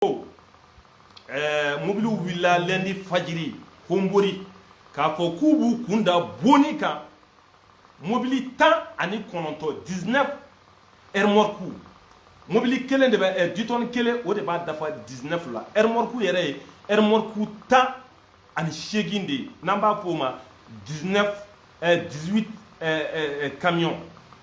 ko eh, mobiliw wulila lɛndi fajiri honbori k'a fɔ k'u b'u kun da boni kan mobili tan ani kɔnɔntɔn 19 ɛrmɔrku mobili kelen de bɛ eh, ditɔni kelen o de b'a dafa 19 la ɛrmɔrku yɛrɛ ye ɛrmɔrku tan ani seegin de ye n'an b'a f'o ma 19 eh, 18 eh, eh, eh, camion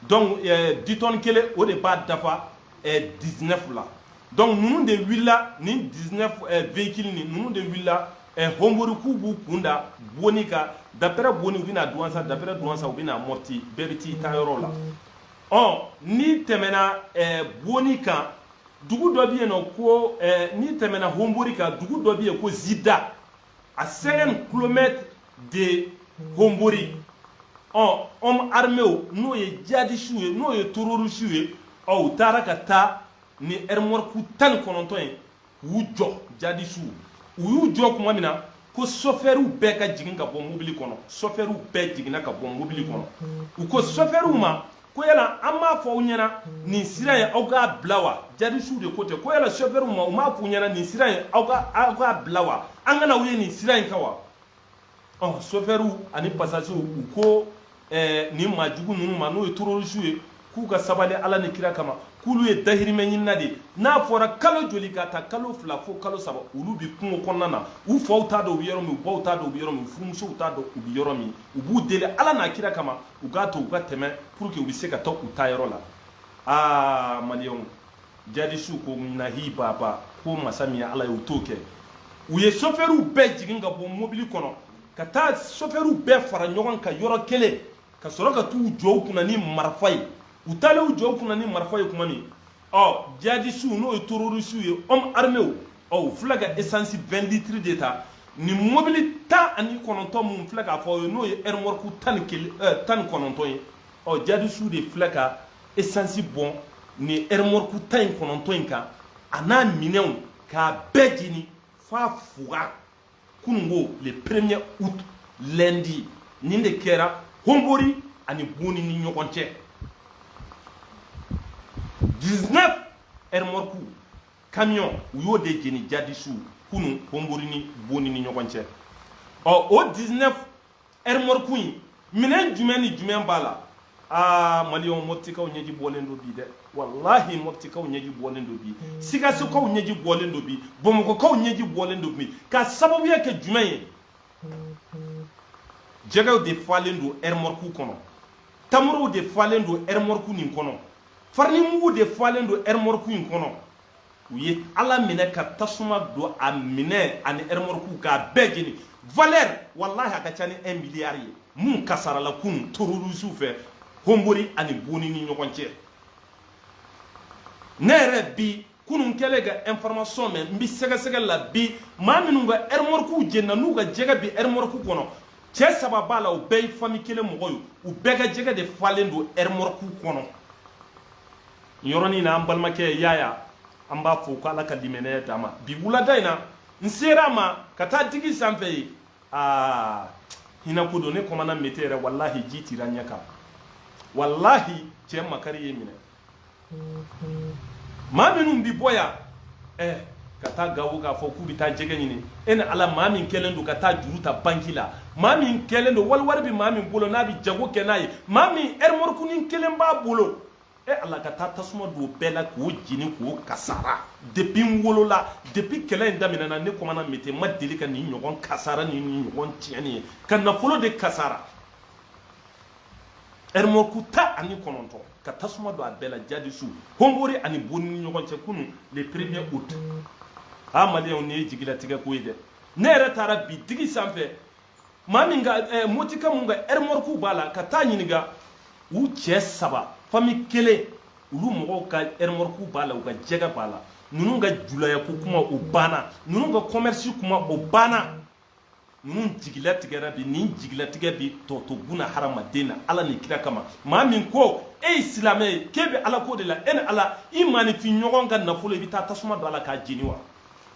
donc eh, ditɔni kelen o de b'a dafa eh, 19 la donc ninnu de wulila nin 19 eh, véhicule nin ninnu de wulila eh, honbori k'u b'u kun da boni kan d'après boni u bɛna duwansa d'après duwansa u bɛna mɔti bɛɛ bɛ t'i taa yɔrɔ la ɔ n'i tɛmɛna eh, boni kan dugu dɔ bɛ yen non ko eh, n'i tɛmɛna honbori kan dugu dɔ bɛ yen ko zida à 50 kilomɛtiri de honbori ɔ ɔm armew n'o ye jadisiw ye n'o ye tororisiw ye ɔ u taara ka taa ni ɛrimɔriku tan ni kɔnɔntɔn ye k'u jɔ jadisiw u y'u jɔ tuma min na ko sɔfɛriw bɛɛ ka jigin ka bɔ mobili kɔnɔ sɔfɛriw bɛɛ jiginna ka bɔ mobili kɔnɔ u ko sɔfɛriw ma ko yala an m'a fɔ aw ɲɛna nin sira in aw k'a bila wa jadisiw de ko ten ko yala sɔfɛriw ma u m'a f'u ɲɛna nin sira in aw ka aw k'a bila wa an kana u ye nin sira in kan wa ɔ sɔfɛriw ani pasasiw u ko ɛɛ nin maa jugu ninnu ma n'o ye tororisiw ye k'u ka sabali ala ni kira kama k'olu ye dahirimɛ ɲinina de ye n'a fɔra kalo joli k'a ta kalo fila fo kalo saba olu bi kungo kɔnɔna na u faw t'a dɔn u bɛ yɔrɔ min u baw t'a dɔn u bɛ yɔrɔ min u furumusow t'a dɔn u bɛ yɔrɔ min u b'u deli ala n'a kira kama u k'a to u ka tɛmɛ pour que u bɛ se ka taa u taa yɔrɔ la aa maliyɛnw jadisiw ko nahi baba ko masa min ye ala ye u t'o kɛ u ye sofɛriw bɛɛ jigin ka bɔ mobili kɔnɔ ka taa sofɛriw bɛɛ fara ɲɔgɔn kan yɔrɔ kelen ka sɔrɔ ka t'u jɔ u kunna ni marifa ye u taalen u jɔ u kunna ni marifa ye tuma min ɔ jihadisiw n'o ye terorisiw ye ɔmu arimew u filɛ ka esansi 20 litiri de ta nin mobili tan ani kɔnɔntɔn min n filɛ k'a fɔ n'o ye ɛrimɔriku tan ni kelen ɛɛ tan ni kɔnɔntɔn ye ɔ jihadisiw de filɛ ka esansi bɔn nin ɛrimɔriku tan ni kɔnɔntɔn in kan a n'a minɛnw k'a bɛɛ jeni f'a fuga kunun ko le premier août lundi nin de kɛra honbori ani boni ni ɲɔgɔn cɛ 19 ermorku camion u y'o de jeni jadisiw kunun honbori ni boni ni ɲɔgɔn cɛ ɔ o 19 ɛrimɔriku in minɛn jumɛn ni jumɛn b'a la aa maliyɛnw mɔpitikaw ɲɛji bɔlen don bi dɛ walahi mɔpitikaw ɲɛji bɔlen don bi sikasokaw ɲɛji bɔlen don bi bamakɔkaw ɲɛji bɔlen don bi ka sababuya kɛ jumɛn ye jɛgɛw de falen don ɛrimɔriku kɔnɔ tamorow de falen don ɛrimɔriku nin kɔnɔ farinimugu de falen don ɛrimɔriku in kɔnɔ u ye ala minɛ ka tasuma don a minɛn ani ɛrɛmɔrɔkuw k'a bɛɛ jeni valeur walahi a ka ca ni 1 miliyari ye mun kasarala kun tororisiw fɛ honbori ani boni ni ɲɔgɔn cɛ ne yɛrɛ bi kunun kɛlen ka information mɛn n bi sɛgɛsɛgɛ la bi maa minnu ka ɛrɛmɔrɔkuw jenina n'u ka jɛgɛ bi ɛrɛmɔrɔku kɔnɔ cɛ saba b'a la u bɛɛ ye fami kelen mɔgɔ ye u bɛɛ ka jɛgɛ de falen don ɛrɛmɔrɔkuw kɔnɔ yɔrɔnin na an balimakɛ yaya an b'a fɔ ko ala ka limaniya d'a ma bi wulada in na n sera a ma ka taa digi sanfɛ ye aa hinako don ne kɔmana mete yɛrɛ walahi ji tira ɲɛ kan walahi cɛ makari ye n minɛ maa minnu bi bɔ yan eh, ka taa gawo k'a fɔ k'u bɛ taa jɛgɛ ɲini e ni ala maa min kɛlen don ka taa juru ta banki la maa min kɛlen don wali wari bɛ maa min bolo n'a bɛ jago kɛ n'a ye maa min ɛrimɔrikunin kelen b'a bolo e ala ka taa tasuma don bɛɛ la k'o jeni k'o kasara depi n wolola depi kɛlɛ in daminɛna ne kɔmana mete ma deli ka nin ɲɔgɔn kasara ni nin ɲɔgɔn tiɲɛni ye ka nafolo de kasara ɛrimɔriku tan ani kɔnɔntɔn ka tasuma don a bɛɛ la jihadisiw honbori ani boni ni ɲɔgɔn cɛ kunun le premier août a maliyɛnw nin ye jigilatigɛ ko ye dɛ ne yɛrɛ taara bi digi sanfɛ maa min ka eh, motika mun ka ɛrimɔriku b'a la ka taa ɲininka u cɛ saba fami kelen olu mɔgɔw ka ɛrimɔriku b'a la u ka jɛgɛ b'a la ninnu ka julaya ko kuma o banna ninnu ka kɔmɛrisi kuma o banna ninnu jigilatigɛra bi nin jigilatigɛ bi tɔɔto buna hadamaden na ala ni kira kama maa min ko e ye silamɛ ye k'e bɛ ala ko de la e ni ala i maaninfin ɲɔgɔn ka nafolo i bɛ taa tasuma don a la k'a jeni wa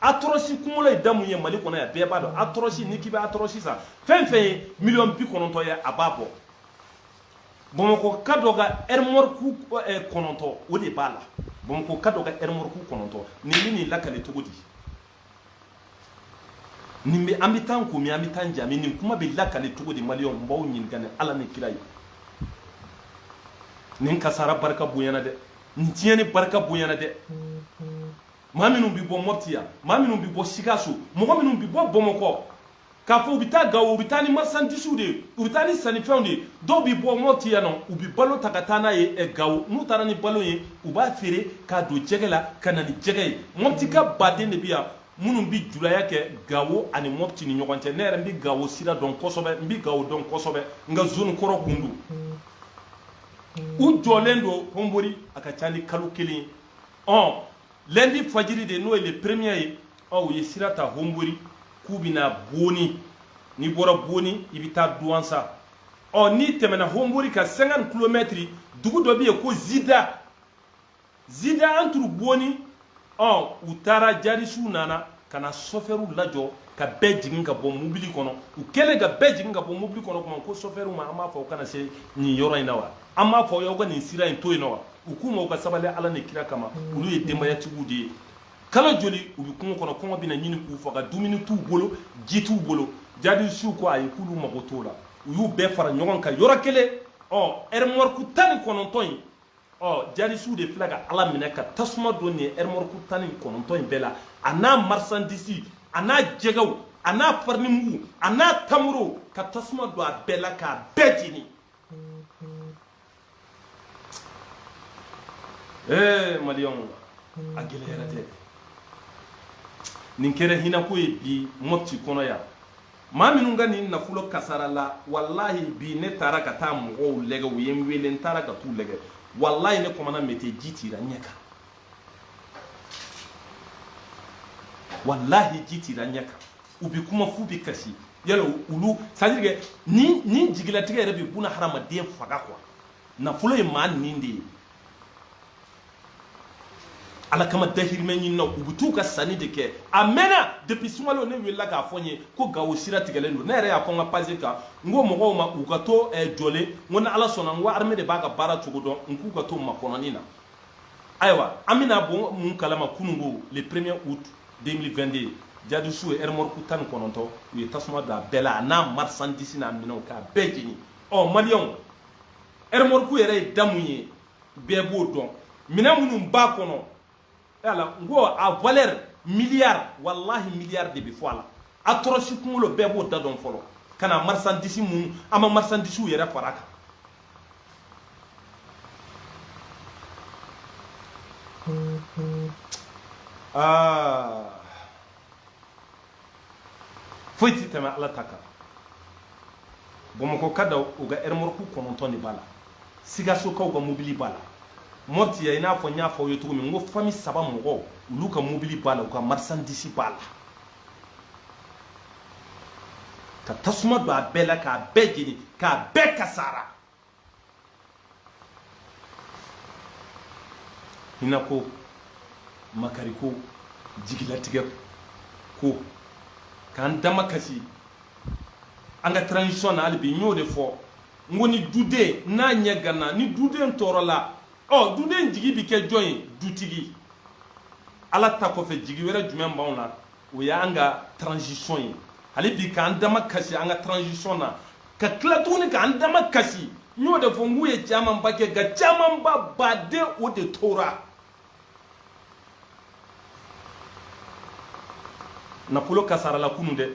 atɔrɔsi kunkolo ye da mun ye mali kɔnɔ yan bɛɛ b'a dɔn atɔrɔsi ni k'i bɛ atɔrɔsi san fɛn fɛn ye miliyɔn bi kɔnɔntɔn ye a b'a bɔ bamakɔka dɔ ka ɛrimɔriku eh, kɔnɔntɔn o de b'a la bamakɔka dɔ ka ɛrimɔriku kɔnɔntɔn nin bɛ nin lakale cogo di nin bɛ an bɛ taa ko min an bɛ taa ja min nin kuma bɛ lakale cogo di maliyɛnw n b'aw ɲininka ni ala ni kira ye nin kasara barika bonyana dɛ nin tiɲɛni barika bonyana dɛ maa minnu bɛ bɔ mɔpti yan maa minnu bɛ bɔ sikaso mɔgɔ minnu bɛ bɔ bamakɔ k'a fɔ u bɛ taa gawo u bɛ taa ni marisandisiw de ye u bɛ taa ni sannifɛnw de ye dɔw bɛ bɔ mɔpti yan nɔ u bɛ balo ta ka taa n'a ye eh, gawo n'u taara ni balo ye u b'a feere k'a don jɛgɛ la ka na ni jɛgɛ ye mɔpti ka baden de bɛ yan minnu bɛ julaya kɛ gawo ani mɔpti ni ɲɔgɔn cɛ ne yɛrɛ n bɛ gawo sira dɔn kosɛbɛ n bɛ gawo dɔn kosɛbɛ n ka zone kɔrɔ kun don u jɔlen don honbori a ka ca ni kalo kelen ye ɔ lundi fajiri de n'o ye le premier ye ɔ u ye sira ta honbori k'u bɛna boni n'i bɔra boni i bɛ taa duwansa ɔ n'i tɛmɛna honbori kan 50 kilomɛtiri dugu dɔ bɛ yen ko zida zida entre boni ɔ u taara jadisiw nana ka na sɔfɛriw lajɔ ka bɛɛ jigin ka bɔ mobili kɔnɔ u kɛlen ka bɛɛ jigin ka bɔ mobili kɔnɔ kuma ko sɔfɛriw ma an b'a fɔ u kana se nin yɔrɔ in na wa an b'a fɔ aw ka nin sira in to yen na wa u k'u ma u ka sabali ala ni kira kama olu ye denbayatigiw de ye kalo joli u bɛ kungo kɔnɔ kɔngɔ bɛna ɲini k'u faga dumuni t'u bolo ji t'u bolo jadisiw ko ayi k'olu mago t'o la u y'u bɛɛ fara ɲɔgɔn kan yɔrɔ kelen ɔ ɛrimɔriku tan ni kɔnɔntɔn in ɔ jadisiw de filɛ k'a lamɛnɛ ka tasuma don nin ɛrimɔriku tan ni kɔnɔntɔn in bɛɛ la a n'a marisandisi a n'a jɛgɛw a n'a farinimugu a n'a tamuro ka tasuma don a bɛɛ la k'a bɛɛ jeni ee maliyɛnw a gɛlɛyara dɛ nin kɛra hinako ye bi mɔpti kɔnɔ yan maa minnu ka nin nafolo kasarala walahi bi ne taara ka taa mɔgɔw lɛgɛ u ye n wele n taara ka t'u lɛgɛ walahi ne kɔmana mete ji tira ɲɛ kan walahi ji tira ɲɛ kan u bi kuma f'u bi kasi voilà olu c'est-à-dire que ni ni jigilatigɛ yɛrɛ bi buna hadamaden faga quoi nafolo ye maa nin de ye ala kama dahirimɛ ɲinina u bɛ t'u ka sanni de kɛ a mɛnna depuis sunkalo ne welela k'a fɔ n ye ko gawo sira tigɛlen don ne yɛrɛ y'a fɔ n ka page kan n ko mɔgɔw ma u ka to eh, jɔlen n ko ni ala sɔnna n ko armée de b'a ka baara cogo dɔn n k'u ka to makɔnɔni na ayiwa an bɛna bɔ mun kalama kununko le premier août 2022 jadisiw ye ɛrɛmɔriku tan ni kɔnɔntɔn u ye tasuma don a bɛɛ la a n'a marchandise n'a minɛnw k'a bɛɛ jeni ɔ maliyɛnw ɛrɛmɔriku yɛrɛ ye da min ye bɛɛ b'o dɔn minɛn minnu b'a kɔnɔ voilà n ko a valeur miliyari walahi miliyari de bɛ fɔ a la actros kunkolo bɛɛ b'o da dɔn fɔlɔ ka na marisandisi minnu an ma marisandisiw yɛrɛ fara a kan aa ah. foyi tɛ tɛmɛ ala ta kan bamakɔka dɔw u ka ɛrɛmɔriku kɔnɔntɔn de b'a la sikasokaw ka mobili b'a la mɔpti yan i n'a fɔ n y'a fɔ aw ye cogo min n ko fami saba mɔgɔw olu ka mobili b'a la u ka marisandisi b'a la ka tasuma don a bɛɛ la k'a bɛɛ jeni k'a bɛɛ kasara hinɛ ko makari ko jigilatigɛ ko k'an dama kasi an ka transition na hali bi n y'o de fɔ n ko ni duden n'a ɲɛ ganna ni duden tɔɔrɔla ɔ duden jigi bi kɛ jɔn ye dutigi ala ta kɔfɛ jigi wɛrɛ jumɛn b'anw na o y'an ka transition ye hali bi k'an dama kasi an ka transition na ka tila tuguni k'an dama kasi n y'o de fɔ n k'u ye camanba kɛ nka camanba baden o de tora nafolo kasarala kunun dɛ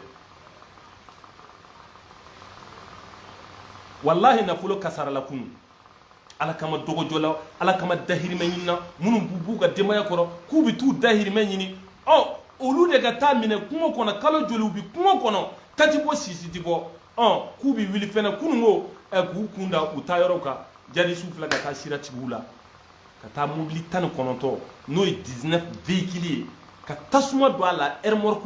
walahi nafolo kasarala kunun ala kama dɔgɔjɔla ala kama dahirimɛ ɲinina minnu bɛ b'u ka denbaya kɔrɔ k'u bɛ t'u dahirimɛ ɲini ɔ olu de ka taa minɛ kungo kɔnɔ kalo joli u bɛ kungo kɔnɔ ta ti bɔ sisi ti bɔ ɔ k'u bɛ wuli fɛnɛ kunun ko ɛ k'u kun da u taa yɔrɔw kan jadisiw filɛ ka taa sira tig'u la ka taa mobili tan ni kɔnɔntɔn n'o ye 19 véhicule ye ka tasuma don a la remorque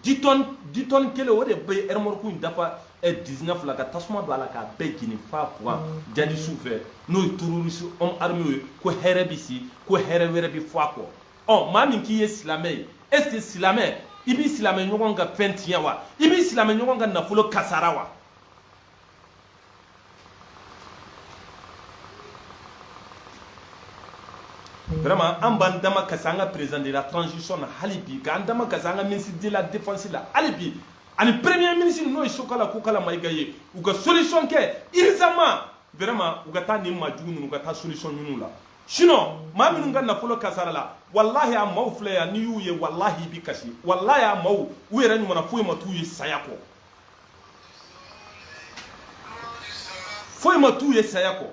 10 tonnes 10 tonnes kelen o de bɛ remorque in dafa 19 la ka tasuma don a la k'a bɛɛ jeni fa quoi jadisiw fɛ n'o ye terroriste homme armé ye ko hɛrɛ bɛ si ko hɛrɛ wɛrɛ bɛ fɔ a kɔ ɔ maa min k'i ye silamɛ ye est ce que silamɛ i b'i silamɛ ɲɔgɔn ka fɛn tiɲɛ wa i b'i silamɛ ɲɔgɔn ka nafolo kasara wa vraiment an b'an dama kasi an ka président de la transition na hali bi k'an dama kasi an ka ministre de la défense la hali bi ani premier ministre n'o ye sokala kokala mayiga ye u ka solution kɛ urgemment vraiment u ka taa nin maa jugu ninnu u ka taa solution ɲin'u la sinon maa minnu ka nafolo kasarala walahi a maaw filɛ yan n'i y'u ye walahi i bi kasi walahi a maaw u yɛrɛ ɲɔgɔnna foyi ma t'u ye saya kɔ foyi ma t'u ye saya kɔ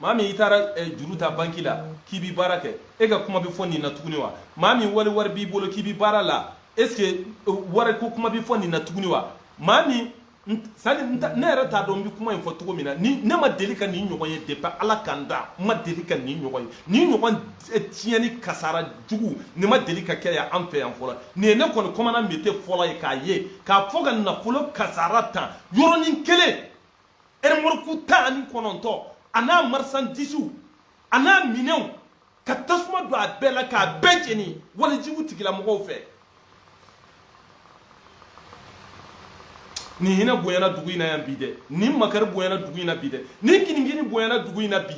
maa min i taara eh, juru ta banki la k'i bi baara kɛ e ka kuma bɛ fɔ nin na tuguni wa maa min wali wari b'i bolo k'i bi baara la est ce que eh, wari ko kuma bɛ fɔ nin na tuguni wa maa min sani ne yɛrɛ t'a dɔn n bɛ kuma in fɔ cogo min na ni ne ma deli ka nin ɲɔgɔn ye depuis ala ka n da n ma deli ka nin ɲɔgɔn ye nin ɲɔgɔn tiɲɛni kasara jugu nin ma deli ka kɛ yan an fɛ yan fɔlɔ nin ye ne kɔni commandant mete fɔlɔ ye k'a ye k'a fɔ ka nafolo kasara tan yɔrɔnin kelen remorque tan ani kɔnɔntɔn a n'a marisandisiw a n'a minɛnw ka tasuma don a bɛɛ la k'a bɛɛ jeni walejugu tigilamɔgɔw fɛ nin hinɛ bonyana dugu in na yan bi dɛ nin makari bonyana dugu in na bi dɛ nin kinikini bonyana dugu in na bi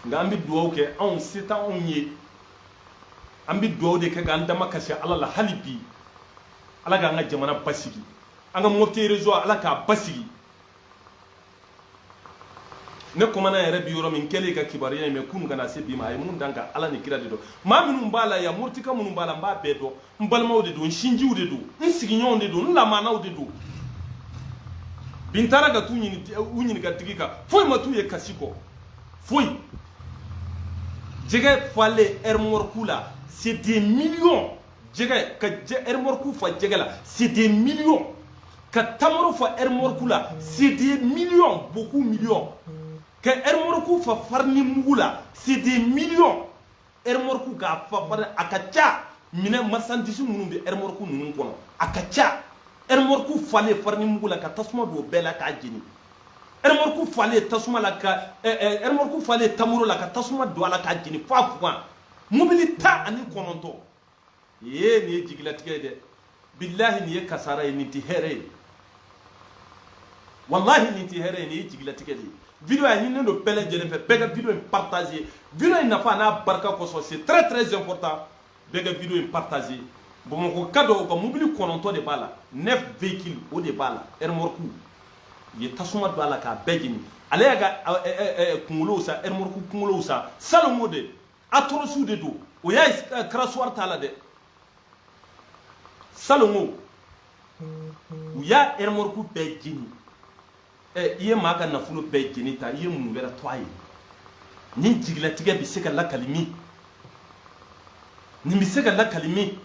nka an bɛ dugawu kɛ anw se tɛ anw ye an bɛ dugawu de kɛ k'an damakasi ala la hali bi ala k'an ka jamana basigi an ka mɔpiti rezɔn ala k'a basigi ne kɔmana yɛrɛ bi yɔrɔ min n kɛlen ka kibaruya in mɛn kunu ka na se bi ma a ye mun da n kan ala ni kira de dɔn maa minnu b'a la yan moritika minnu b'a la n b'a bɛɛ dɔn n balimaw de don n sinjiw de don n sigiɲɔgɔnw de don n lamanaw de don bi n taara ka t'u ɲininka tigi kan foyi ma t'u ye kasi kɔ foyi jɛgɛ falen ɛrimɔriku la c'est des millions jɛgɛ ka ɛrimɔriku fa jɛgɛ la c'est des millions ka tamaro fa ɛrimɔriku la c'est des millions beaucoup millions ka ɛrimɔriku fa farini mugu la c'est des millions ɛrimɔriku k'a fa bari a ka ca minɛn marisandisi minnu bɛ ɛrimɔriku ninnu kɔnɔ a ka ca ɛrimɔriku falen farini mugu la ka tasuma don bɛɛ la k'a jeni ɛrimɔriku falen tasuma la ka ɛrimɔriku falen tamuro la ka tasuma don a la k'a jeni f'a fugan mobili tan ani kɔnɔntɔn Ye nin ye jigilatigɛ ye dɛ bilahi nin ye kasara ye nin tɛ hɛrɛ ye walahi nin tɛ hɛrɛ ye nin ye jigilatigɛ de ye video a ɲininen don bɛɛ lajɛlen fɛ bɛɛ ka video in partager video in nafa n'a barika kosɔn c'est très très important bɛɛ ka video in partager bamakɔka dɔ ka mobili kɔnɔntɔn de b'a la neuf véhicule o de b'a la remorque u ye tasuma don a la k'a bɛɛ jeni ale y'a ka kunkolow san remorque kunkolow san salon de atɔrɔsiw de don o y'a eh, karasuwari t'a la dɛ salon u y'a ɛrɛmɔriku bɛɛ jeni ɛ eh, i ye maa ka nafolo bɛɛ jeni tan i ye mun wɛrɛ to a ye nin jigilatigɛ bɛ se ka lakali min nin bɛ se ka lakali min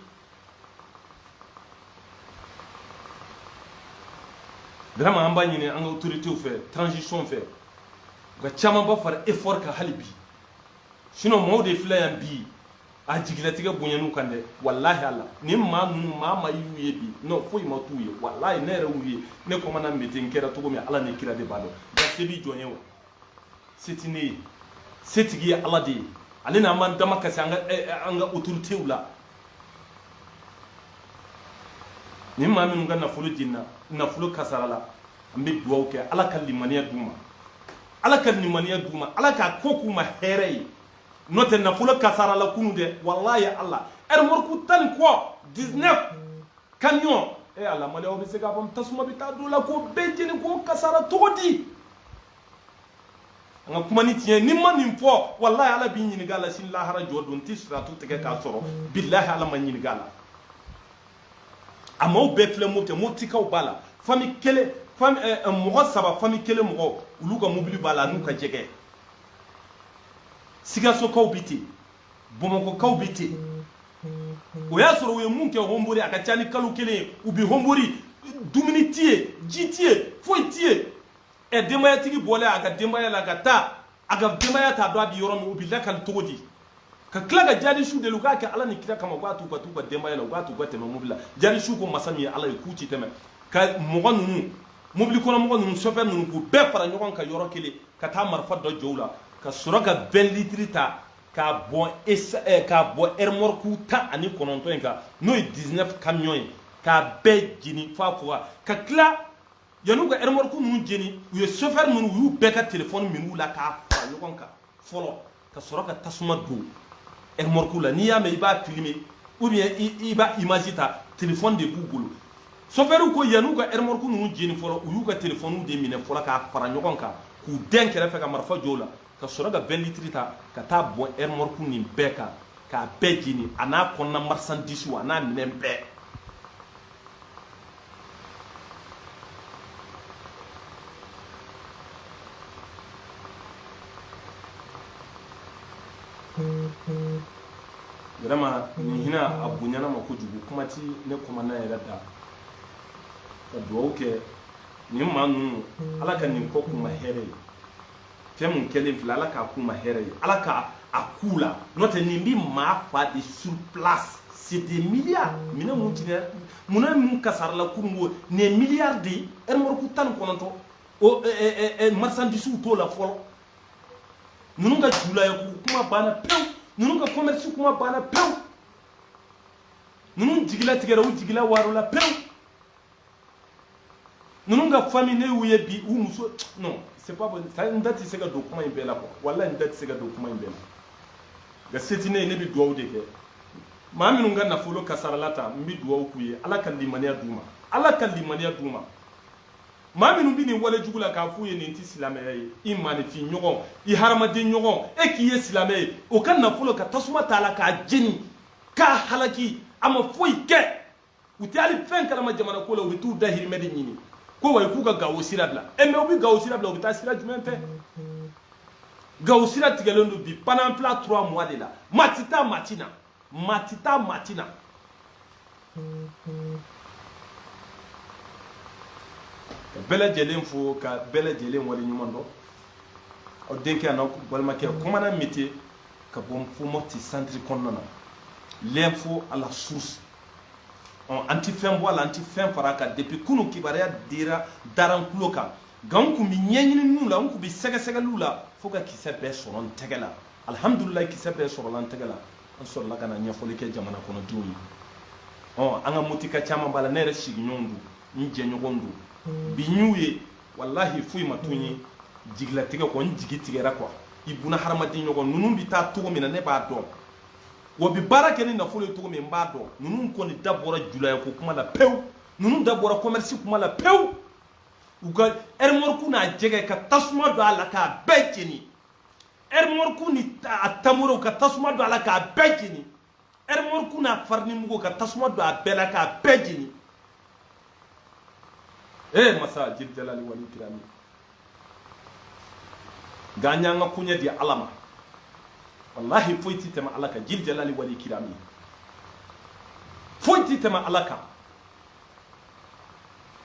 vraiment an b'a ɲini an ka autorités fɛ transition fɛ u ka camanba fara effort kan hali bi sinon maaw de filɛ yan bi a jigilatigɛ bonyan'u kan dɛ walahi ala ni maa ninnu maa ma y'u ye bi non foyi ma t'u ye walahi ne yɛrɛ y'u ye ne kɔmana mete n kɛra cogo min ala ni kira de b'a dɔn nka se bi jɔn ye wa se ti ne ye setigi ye ala de ye ale n'an b'an damakasi an ka eh, eh, an ka autoritew la ni maa minnu ka nafolo jenina nafolo kasarala an bɛ dugawu kɛ ala ka limaniya d'u ma ala ka limaniya d'u ma ala k'a ko k'u ma hɛrɛ ye n'o tɛ nafolo kasarala kunu dɛ walayi ala ɛrimɔriku tan ni kɔ 19 kamiyon e eh, ala maliyɛnw bɛ se k'a fɔ tasuma bɛ taa don a la k'o bɛɛ jeni k'o kasara cogo di an ka kuma ni tiɲɛ ni n ma nin fɔ walayi ala bi n ɲininka a la sini lahara jɔdon n tɛ siratu tigɛ k'a sɔrɔ bilahi ala ma n ɲininka a la a maaw bɛɛ filɛ mɔti mɔtikaw b'a la fami kelen eh, eh, mɔgɔ saba fami kelen mɔgɔ olu ka mobili b'a la n'u ka jɛgɛ sikasokaw bi ten bamakɔkaw bi ten o y'a sɔrɔ u ye mun kɛ honbori a ka ca ni kalo kelen ye u bi honbori dumuni ti ye ji ti ye foyi ti ye ɛ denbayatigi bɔlen a ka denbaya la ka taa a ka denbaya t'a dɔn a bi yɔrɔ min u bi lakali cogo di ka tila ka jadisiw deli u k'a kɛ ala ni kira kama u k'a t'u ka t'u ka denbaya la u k'a t'u ka tɛmɛ mobili la jadisiw ko masa min ye ala ye k'u ti tɛmɛ ka mɔgɔ ninnu mobili kɔnɔ mɔgɔ ninnu sɔfɛri ninnu k'u bɛɛ fara ɲɔgɔn kan yɔrɔ kelen ka taa marifa dɔ jɔ u la ka sɔrɔ ka 20 litiri ta k'a bɔn eh, k'a bɔn ɛrɛmɔrɔku tan ani kɔnɔntɔn in kan n'o ye 19 kamiyɔn ye k'a bɛɛ jeni f'a koga ka tila yan'u ka ɛrɛmɔrɔku ninnu jeni u ye sɔfɛri ninnu u y'u bɛɛ ka telefɔni min'u la k'a fara ɲɔgɔn kan fɔlɔ ka sɔrɔ ka tasuma don ɛrmɔriku la n'i y'a mɛn i b'a filime ou bien i b'a image ta telefɔni de b'u bolo sofɛriw ko yan'u ka ɛrmɔriku ninnu jeni fɔlɔ u y'u ka telefɔniw de minɛ fɔlɔ k'a fara ɲɔgɔn kan k'u dɛn kɛrɛfɛ ka marifa jɔ o la ka sɔrɔ ka 20 litiri ta ka t'a bɔn ɛrmɔriku nin bɛɛ kan k'a bɛɛ jeni a n'a kɔnɔna marisandisiw a n'a minɛn bɛɛ vraiment nin hinɛ a bonyana ma kojugu kuma ti ne kɔmana yɛrɛ da ka dugawu kɛ nin maa ninnu ala ka nin ko k'u ma hɛrɛ ye fɛn mun kɛlen filɛ ala k'a k'u ma hɛrɛ ye ala ka a k'u la n'o tɛ nin bɛ maa fa de sur place c'est des milliards minɛn mun tiɲɛna munna mun kasarala kurun ko nin ye milliards de ye ɛrimɔrɔku tan ni kɔnɔntɔn o marisandisiw t'o la fɔlɔ ninnu ka julaya ko kuma banna pewu ninnu ka kɔmɛrisi kuma banna pewu ninnu jigi latigɛra u jigi lawaarola pewu ninnu ka fami ne y'u ye bi u muso non c'est pas bon ça n da tɛ se ka don kuma in bɛɛ la quoi wallahi n da tɛ se ka don kuma in bɛɛ la nka se tɛ ne ye ne bɛ dugawu de kɛ maa minnu ka nafolo kasarala tan n bɛ dugawu k'u ye ala ka limaniya d'u ma ala ka limaniya d'u ma maa minnu bɛ nin wale jugu la k'a f'u ye nin tɛ silamɛya ye i maanifin ɲɔgɔn i hadamaden ɲɔgɔn e k'i ye silamɛ ye o ka nafolo ka tasuma t'a la k'a jeni k'a halaki a ma foyi kɛ u tɛ hali fɛn kalama jamana ko la u bɛ t'u dahirimɛ de ɲini quoi k'u ka gawo sira bila eh mais u bɛ gawo sira bila u bɛ taa sira jumɛn fɛ gawo sira tigɛlen don bi pendant trois mois de la maa ti taa maa ti na maa ti taa maa ti na ka bɛɛ lajɛlen fo ka bɛɛ lajɛlen waleɲuman dɔn aw denkɛ an'aw balimakɛ kɔmana mete ka bɔ fo mɔti santiri kɔnɔna na l'info à la source ɔ an tɛ fɛn bɔ a la an tɛ fɛn fara a kan depuis kunu kibaruya dira dara an kulo kan nka n kun bɛ ɲɛɲininiw la n kun bɛ sɛgɛsɛgɛliw la fo ka kisɛ bɛɛ sɔrɔ n tɛgɛ la alihamudulilayi kisɛ bɛɛ sɔrɔla n tɛgɛ la an sɔrɔla ka na ɲɛfɔli kɛ jamana kɔnɔdenw ye ɔ an ka motika caman b'a la ne yɛrɛ sigiɲɔgɔnw don n jɛɲɔgɔnw don bi n y'u ye walahi foyi ma to n ye jigilatigɛ kɔ n jigi tigɛra quoi i buna hadamaden ɲɔgɔn ninnu bɛ taa cogo min na ne b'a dɔn wa u bi baara kɛ ni nafolo ye cogo min n b'a dɔn ninnu kɔni da bɔra julaya ko kuma la pewu ninnu da bɔra commerce kuma la pewu u ka ɛrimɔriku n'a jɛgɛ ka tasuma don a la k'a bɛɛ jeni ɛrimɔriku ni a tamorow ka tasuma don a la k'a bɛɛ jeni ɛrimɔriku n'a farinimugu ka tasuma don a bɛɛ la k'a bɛɛ jeni ee masa jil jalali wali kirami nka an y'an ka koɲɛ di ala ma wallahi foyi tɛ tɛmɛ ala kan jil jalali wali kirami foyi tɛ tɛmɛ ala kan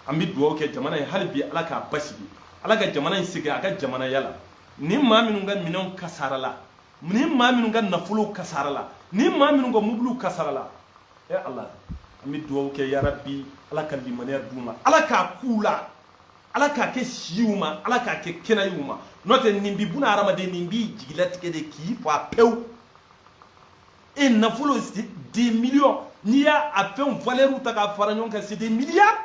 an bi duwawu kɛ jamana ye hali bi ala k'a basigi ala ka jamana in sigi a ka jamana yala ni maa minnu ka minɛnw kasarala ni maa minnu ka nafolow kasarala ni maa minnu ka mobiliw kasarala e ala an bɛ duwawu kɛ yarabi ala ka limaniya d'u ma ala k'a k'u la ala k'a kɛ si y'u ma ala k'a kɛ kɛnɛya y'u ma n'o tɛ nin bi buna hadamaden nin b'i jigilatigɛ de k'i fa pewu e nafolo des millions n'i y'a fɛnw valeur ta k'a fara ɲɔgɔn kan c'est des milliards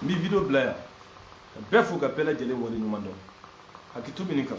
n bɛ video bila yan ka bɛɛ fo ka bɛɛ lajɛlen waleɲumandɔn hakɛto bɛ nin kan